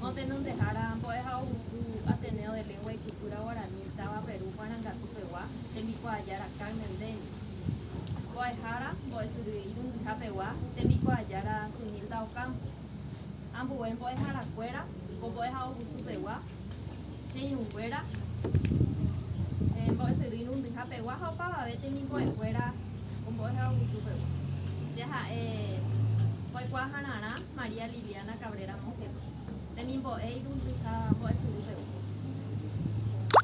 Ha tenondehára Mbo'ehaovusu Ateneo de Lengua y Cultura Guarani táva Perú Marangatu pegua tembikuaajára Carmen Dennis, Mbo'ehára Mbo'esyry Irundiha pegua tembikuaajára Zunilda Ocampo, ambue mbo'eharakuéra ko Mbo'ehaovusu pegua Che irũnguéra, Mbo'esyry Irundiha pegua ha opavave temimbo'ekuéra ko Mbo'ehaovusu pegua. Jaha'e mbo'ekuaahararã. María Liliana Cabrera Mokete, temimbo'e irundyha mbo'esyry peve.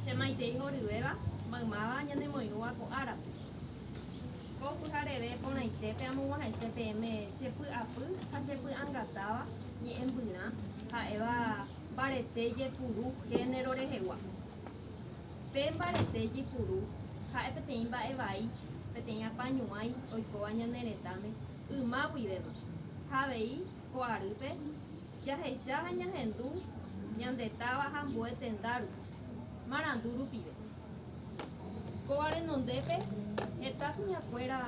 Che maitei horyvéva, maymáva ñanemoirũva ko árape. Ko pyhareve porãitépe amog̃uahẽse peẽme che py'apy ha che py'angatáva ñe'ẽmbyrã ha'éva mbarete ijepuru género rehegua. Pe mbarete ijepuru ha'e peteĩ mba'e vai, peteĩ apañuãi oikóva ñane retãme, yma guivéva, ha avei ko arýpe jahecha ha ñahendu ñande táva ha ambue tenda rupi, marandu rupive. Kóva renondépe heta kuñakuéra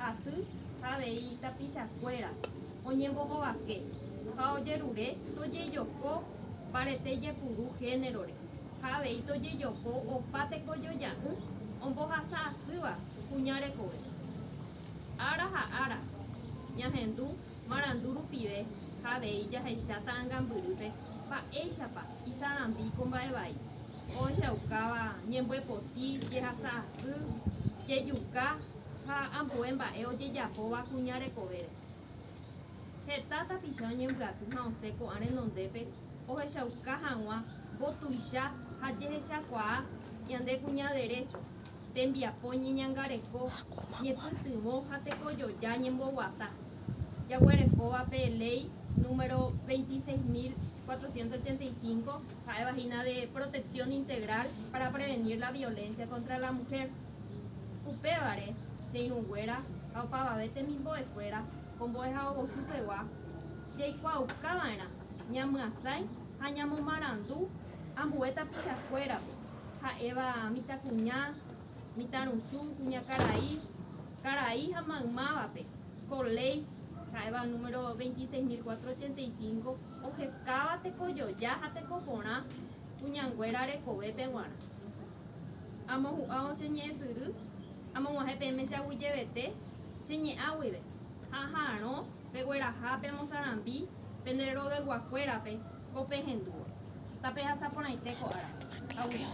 aty ha avei tapichakuéra oñembohovake ha ojerure tojejoko mbarete jepuru génerore ha avei tojejoko opa tekojoja'ỹ ombohasa asýva kuña rekove. Ára ha ára, ñahendu marandu rupive ha avei jahecha ta'angambyrýpe mba'éichapa isa'ambi ko mba'e vai, ohechaukáva ñemboepoti, jehasa asy, jejuka ha ambue mba'e ojejapóva kuña rekovére. Heta tapicha oñembyaty ha osẽ ko'ã renondépe ohechauka hag̃ua mbotuicha ha jehechakuaa ñande kuña derécho. tembiapo ñeñangareko, ñepytyvõ ha tekojoja ñemboguata, jaguerekóva pe Léi número 26.485, ha'éva hína de protección integral para prevenir la violencia contra la mujer. Upévare, che irũnguéra ha opavave temimbo'ekuéra ko mbo'ehaovosupegua, jaikuaauka va'erã ñamyasãi ha ñamomarandu ambue tapichakuérape. ha'éva mitãkuña, mitãrusu, kuñakarai, karai ha maymávape, ko léi, ha'éva número 26.485, ohekáva tekojoja ha tekoporã kuñanguéra rekovépe g̃uarã. Amohu'ãvo che ñe'ẽ syry, amog̃uahẽ peẽme che aguyjevete che ñe'ã guive, ha aha'arõ pegueraha pemosarambi pende roveguakuérape Ko pe hendúvo. Tapehasaporãite ko ára. Aguilar.